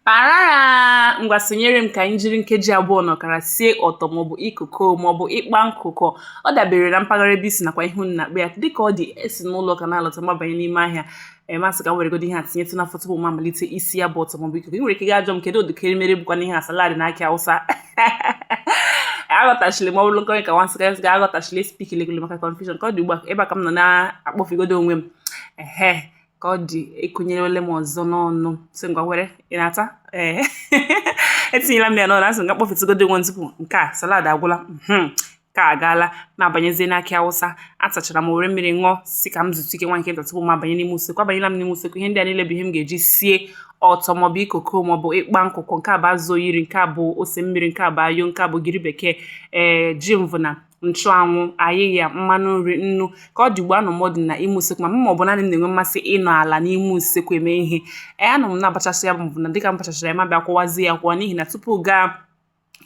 Parara ngwa sonyere m ka anyị jiri nkeji abụọ na ọkara sie ọtọ maọbụ ikoko maọbụ ịkpa nkụkụ ọ dabere na mpaghara ebe i si nakwa ihe unu na-akpọ ya dịka ọ dị esi n'ụlọ ụka na-alọta m abanye n'ime ahịa m asị ka m weregodo ihe a tinyetụ n'afọ tupu m amalite isi ya bụ ọtọ maọbụ ikoko ị nwere ike gaa jụọ m kedu ụdịka erimeri bụkwanụ ihe a salad na akị awụsa aghọtachiri ma ọ bụrụ nkọrị ka nwa nsịka ga aghọtachiri spik legolo maka confusion ka ọ dị ugbu a ebe a ka m nọ na-akpọfigodo onwe m ehe ka ọ dị ekụnyerewele m ọzọ n'ọnụ sị ngwa were ị na-ata ee etinyela m ya n'ọnụ asị ngwa kpọfetụgodo onwe tupu nke a salad agwụla hmm. ka agaala m abanyezie n'akị awụsa atachara m were mmiri ṅụọ sị ka m zutụ ike nwa nke nta tupu m abanye n'ime usekwu abanyela m n'ime usekwu ihe ndị a niile bụ ihe m ga-eji sie ọtọ maọbụ ikoko maọbụ ịkpa nkụkụ nke a bụ azụ oyiri nke a bụ ose mmiri nke a bụ ayo nke a bụ ogiri bekee ee eh, ji mvụna nchụanwụ ayịya mmanụ nri nnu ka ọ dị ugbu anọ m dị na ime usekwu ma m ma ọ bụ naanị m na-enwe mmasị ịnọ ala n'ime usekwu eme ihe ee anọ m na-abachasị ya bụ na dịka m bachachara ya m abịa kwọwazi ya akwọ n'ihi na tupu ị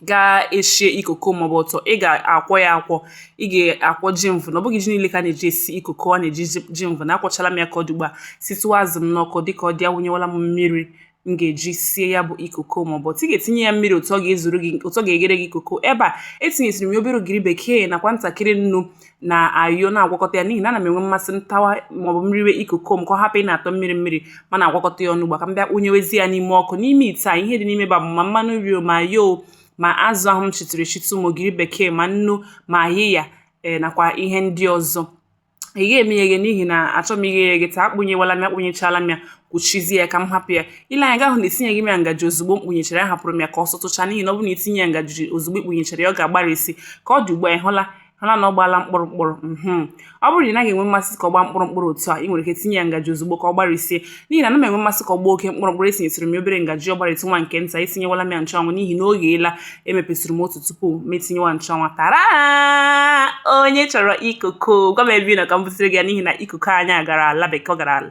ga eshie ikoko maọbụ ọtọ ị ga-akwọ ya akwọ ị ga-akwọ ji mvụna ọ bụghị ji niile ka a na-eji esi ikoko a na-eji ji mvụna akwọchala m ya ka ọ dị ugbu a sitụ azụ m n'ọkụ dịka ọ dị awụnyewala m mmiri m ga-eji sie ya bụ ikoko maọbụ ọtọ ị ga-etinye ya mmiri otu ọ ga-ezuru gị otu ọ ga-eghere gị ikoko ebe a etinyesiri m ya obere ogiri bekee nakwa ntakịrị nnu na ayo na-agwakọta ya n'ihi na ana m enwe mmasị m tawa maọbụ m riwe ikoko m ka ọ hapụ ị na-atọ mmiri mmiri ma na-agwakọta ya ọnụ ugbu a ka m bịa kpụnyewezi ya n'ime ọkụ n'ime ite a ihe dị n'ime ebe a ma mmanụ nri ma ayo ma azụ ahụ m sitụrụ esitụ ma ogiri bekee ma nnu ma ayịya ee eh, nakwa ihe ndị ọzọ ị ga eme ya eghe n'ihi na achọ m ighe ya eghe taa akpụnyewala m akpụnyechala m ya kwuchizie ya ka m hapụ ya i lee anya ị ga-ahụ na etinyeghị m ya ngaji ozugbo m kpụnyechara ya ahapụrụ m ya ka ọ sụtụcha n'ihi na ọ bụrụ na i tinye ya ngaji ozugbo i kpụnyechara ya ọ ga-agbarisi ka ọ dị ugbu a ị hụla hụla na ọ gbaala mkpụrụ mkpụrụ mhm. ọ bụrụ na ị naghị enwe mmasị ka ọ gbaa mkpụrụ mkpụrụ otu a ị nwere ike tinye ya ngaji ozugbo ka ọ gbarisie n'ihi na ana m enwe mmasị ka ọ gbaa oke mkpụrụ mkpụrụ esinyesịrị m obere ngaji ọ gbarietụ nwa nke nta esinyewala m ya nchụanwụ n'ihi na o gheela emepesịrị m otu tupu m etinyewa nchụanwụ tara onye chọrọ ikoko gwa m ebe ị nọ ka m busịrị gị ya n'ihi na ikoko anyị agara ala bekee ọ gara ala